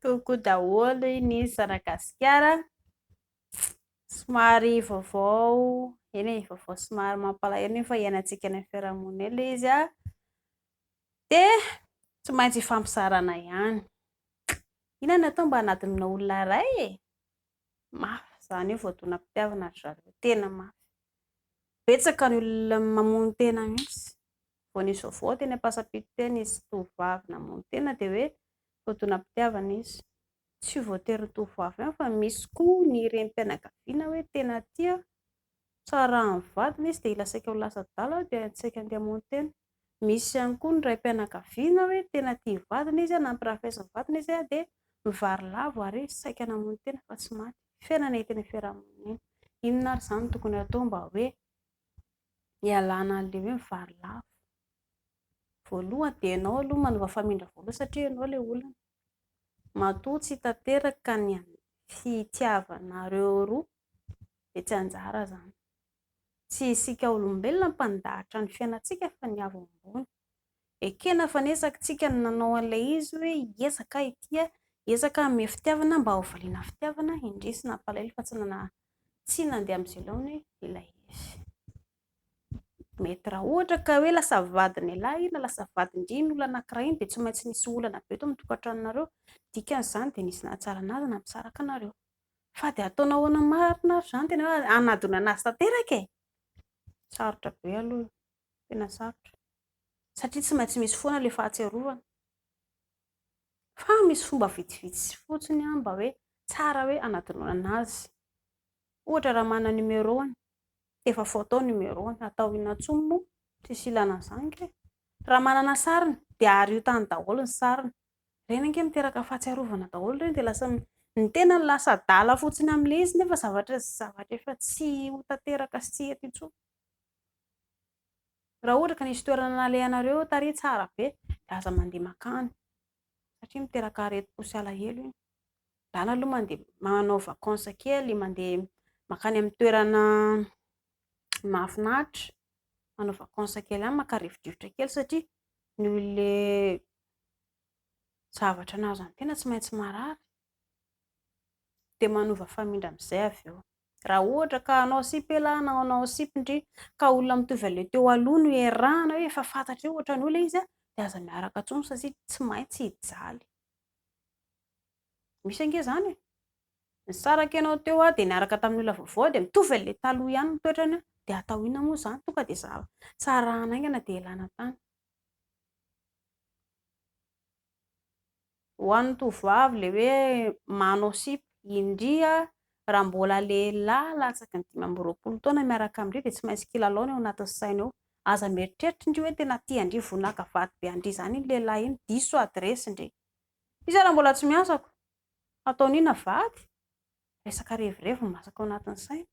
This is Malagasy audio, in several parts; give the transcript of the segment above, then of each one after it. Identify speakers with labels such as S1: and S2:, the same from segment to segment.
S1: Toko daholo i ny Zanagasikara. Somary vaovao, eny e, vaovao somary mampalahelo nefa iainantsika any amin'ny fiarahamonina ilay izy an! Dia tsy maintsy ifampizarana ihany. Inona no atao mba hanadinoana olona iray e? Mafy zany io voadonam-pitiavana ry zareo, tena mafy. Betsaka ny olona mamono tena mihitsy. Vao nisy vaovao teny Ampasapito teny nisy tovovavy namono tena dia hoe voadonam-pitiavana izy. Tsy voatery ny tovovavy ihany fa misy koa ny renim-pianakaviana hoe tena tia Tsaran'ny vadiny izy dia hila saika ho lasa-dala dia nisaika handeha hamono tena. Misy ihany koa ny raim-pianakaviana hoe tena tia ny vadiny izy, nampirafesin'ny vadiny izy dia mivary lavo ary saika namono tena fa tsy maty. Fiainana eto amin'ny fiarahamonina. Inona ary izany no tokony hatao mba hoe hialana an'ilay hoe mivary lavo? Voalohany dia ianao aloha manova famindra voalohany satria ianao ilay olana. Matoa tsy tanteraka ny fitiavanareo roa dia tsy anjara izany. Tsy isika olombelona mpandahatra ny fiainantsika fa ny avo ambony. Ekena fa niezaky tsika ny nanao an'ilay izy hoe hiezaka aho ity a! hiezaka aho hanome fitiavana mba ho valiana fitiavana indrisy nampalahelo fa tsy nandeha amin'izay laoniny ilay izy. Mety raha ohatra ka hoe lasa vadin'ialahy iny na lasa vadin-dry iny olona anankiray iny dia tsy maintsy nisy olana be teo amin'ny tokantranonareo. Ny dikan'izany dia nisy nahatsara an'azy na nisaraka anareo. Fa dia ataonao ahoana marina ary izany tena hoe hanadinana azy tanteraka e? Sarotra be aloha io, tena sarotra satria tsy maintsy misy foana ilay fahatsiarovana. Fa misy fomba vitsivitsy fotsiny mba hoe tsara hoe hanadinoana azy. Ohatra raha manana numéro-ny, efa photo ny numéro-ny, atao inona intsony moa? Tsisy ilana an'izany kay. Raha manana sariny dia ario tany daholo ny sariny. Ireny ange miteraka fahatsiarovana daholo ireny dia lasa, ny tenany lasa adala fotsiny amin'ilay izy nefa zavatra, zavatra efa tsy ho tanteraka sy tsy eto intsony. Raha ohatra ka nisy toerana nalehanareo tary tsara be dia aza mandeha makany satria miteraka aretim-po sy alahelo iny. Angano aloha mandeha manao vacances kely, mandeha makany amin'ny toerana mahafinaritra, manao vacances kely any, maka rivodrivotra kely satria noho ilay zavatra nahazo an'ny tena tsy maintsy marary dia manova famindra amin'izay avy eo. Raha ohatra ka hanao sipa elah na hanao sipa ndry ka olona mitovy anle teo aloha no iarahana hoe efa fantatreo ohatran'io le izy de aza miaraka ntsony satria tsy maintsy hijaly. Misy ange zany e! Nisaraka ianao teo a de niaraka tamin'ny olona vaovao de mitovy anle taloha ihany ny toetrany a de atao inona moa zany tonga de za tsy arahana aingana de elana tany. Ho an'ny tovovavy ilay hoe manao sipa, indria raha mbola lehilahy latsaky ny dimy amby roapolo taona miaraka amin-dry dia tsy maintsy kilalao ny ao anatin'ny sainy ao. Aza mieritreritra indry hoe tena tian-dry vonaka vady be an-dry izany iny lehilahy iny, diso adiresy ndry. Iza raha mbola tsy miasa ko hataony inona vady? Resaka revirevy no masaka ao anatin'ny sainy.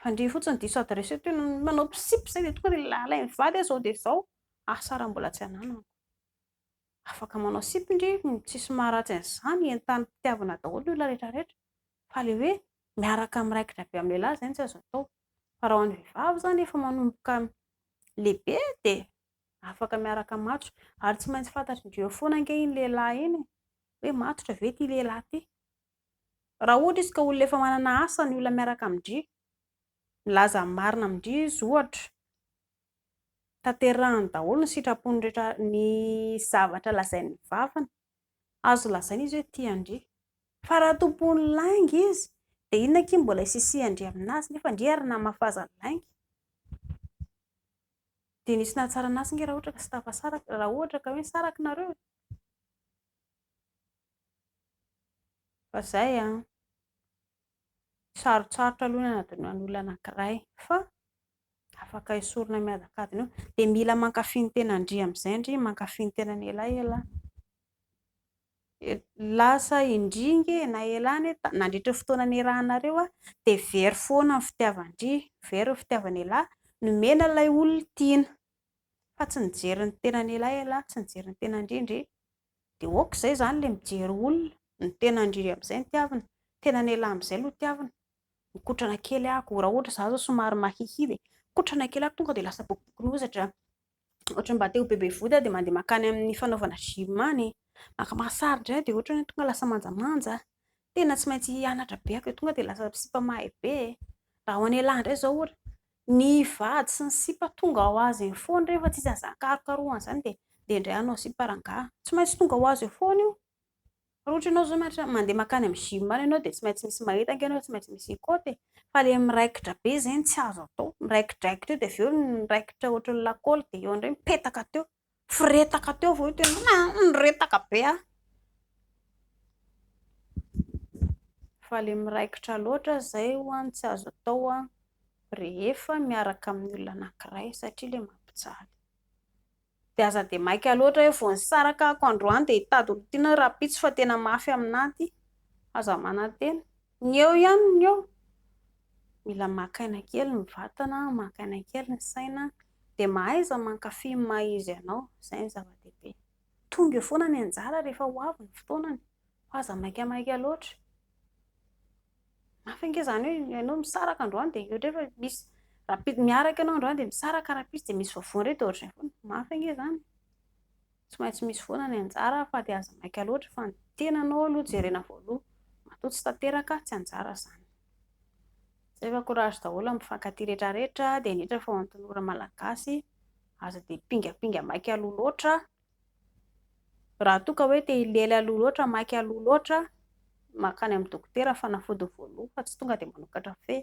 S1: Fa ndry fotsiny diso adiresy eo toy ny manao sipa izay dia tonga dia lehilahy mivady aho izao dia izao, asa raha mbola tsy ananako. Afaka manao sipa ndry tsisy maharatsy an'izany entan'ny mpitiavana daholo ny olona rehetra rehetra fa le hoe miaraka miraikitra be amin'ny lehilahy zay tsy azo atao fa raha ho an'ny vehivavy zany efa manomboka lehibe de afaka miaraka matso ary tsy maintsy fantatry ndry eo foana ange iny lehilahy iny e hoe matotra ve ity lehilahy ity raha ohatra izy ka olona efa manana asa ny olona miaraka amin-dry milaza ny marina amin-dry izy ohatra tanterahany daholo ny sitrapony rehetra ny zavatra lazain'ny vavany, azo lazaina izy hoe tia an-dry, fa raha tompon'ny lainga izy dia inona akia mbola hisisihan-dry aminazy nefa an-dry ary namafaza ny lainga, dia nisy nahatsara anazy nge raha ohatra ka tsy tafasaraka, raha ohatra ka hoe nisaraka nareo e! fa zay an. Sarotsarotra aloha ny hanadinoana olona anankiray fa afaka esorina miadakadona eo. Dia mila mankafy ny tenandry amin'izay ndry, mankafy ny tenany elaela. Lasa indry ange na ela anie, nandritra ny fotoana niarahanareo dia very foana ny fitiavan-dry, very ny fitiavan'elah, nomena ilay olona tiana fa tsy nijery ny tenany elaela, tsy nijery ny tenandry ndry. dia ok izay izany ilay mijery olona, ny tena indrindra amin'izay no tiavina, ny tena an'elah amin'izay no tiavina, mikotrana kely aho, raha ohatra izaho izao somary mahihia dia mikotrana kely aho, tonga dia lasa bokobokon'ozatra, ohatra mba te-ho bebe vody aho dia mandeha mankany amin'ny fanaovana gym any, maka massage indray aho dia ohatra hoe tonga lasa manjamanja, tena tsy maintsy hianatra be aho vao tonga dia lasa sipa mahay be e! raha ho an'elah indray izao ohatra, Ny vady sy ny sipa tonga ho azy eo foana rehefa tsy isan'ny zaka harokarohana izany dia dia indray hanao sipa rangahy. Tsy maintsy tonga ho azy eo foana io. Raha ohatra ianao izao mianatra mandeha mankany amin'ny gym any ianao dia tsy maintsy misy mahita ange ianao, tsy maintsy misy hikôty e. Fa ilay miraikitra be izay no tsy azo atao. Miraikidraikitra eo dia avy eo ny raikitra ohatran'ny lakôly dia eo indray mipetaka teo. Firetaka teo vao hitako hoe ah niretaka be aho. Fa ilay miraikitra loatra izay hono tsy azo atao rehefa miaraka amin'ny olona anankiray satria ilay mampijaly. Dia aza dia maika loatra hoe vao nisaraka ako androany dia hitady olona tiana rahampitso fa tena mafy aminà ity. Aza manantena. Ny eo ihany ny eo, mila maka aina kely ny vatana, maka aina kely ny saina, dia mahaiza mankafy ny maha izy anao, izay no zava-dehibe. Tonga eo foana ny anjara rehefa ho avy ny fotoanany, fa aza maikamaika loatra. Mafy ange izany hoe ianao misaraka androany dia ohatra hoe efa misy rahampitso miaraka ianao androany dia misaraka rahampitso dia misy vaovao indray dia ohatr'izay foana. Mafy ange izany. Tsy maintsy misy foana ny anjara fa dia aza maika loatra fa ny tenanao aloha jerena voaloha, matoa tsy tanteraka tsy anjara izany. Zay fa courage daholo amin'ny mpifankatia retraretra dia indrindra fa ho an'ny tanora malagasy aza dia pingapinga maika aloha loatra, raha toa ka hoe te hilely aloha loatra maika aloha loatra, makany amin'ny dokotera fanafody voaloha fa tsy tonga dia manokatra feo.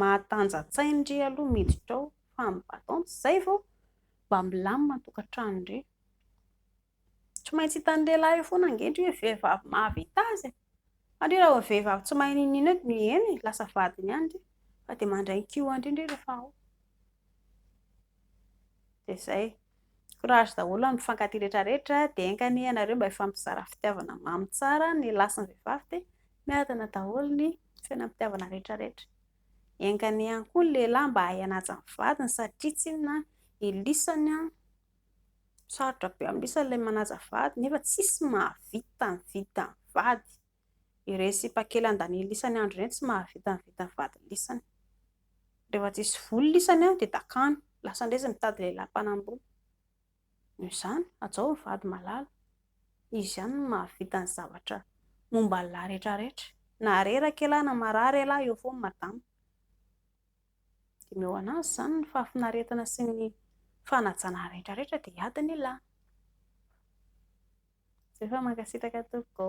S1: mahatanja-tsainy re aloha miditra ao fa ny batons izay vao mba milamina ny tokantrano re tsy maintsy hitan'ny lehilahy eo foana ange ndry hoe vehivavy mahavita azy e fa ndry raha vao vehivavy tsy mahay n'inon'inona eo dia eny e lasa vadiny ihany ndry fa dia mandray ny kihoany indray rehefa ao dia izay, courage daholo amin'ny mpifankatia rehetra rehetra, dia enga anie ianareo mba hifampizara fitiavana mamy tsara, ny lahy sy ny vehivavy dia miadana daholo ny fiainam-pitiavana rehetra rehetra, enga anie ihany koa ny lehilahy mba hahay hanaja ny vadiny satria tsinona ilisany an, sarotra be amin'ny lisany ilay manaja vady nefa tsisy mahavita ny vidin'ny vady. Ireny sipakelan daniel lisany andro ireny tsy mahavita ny vitan'ny vadiny lisany. Rehefa tsisy voly lisany dia dakany. Lasa indray izy mitady lehilahy mpanambola. Noho izany, hajao ny vady malala. Izy ihany no mahavita ny zavatra momba ny lahy rehetra rehetra. Na reraka ialahy na marary ialahy eo foana madama. Dineho an'azy izany ny fahafinaretana sy ny fanajana rehetra rehetra dia hiady ny lahy. Zay fa mankasitraka tompoko.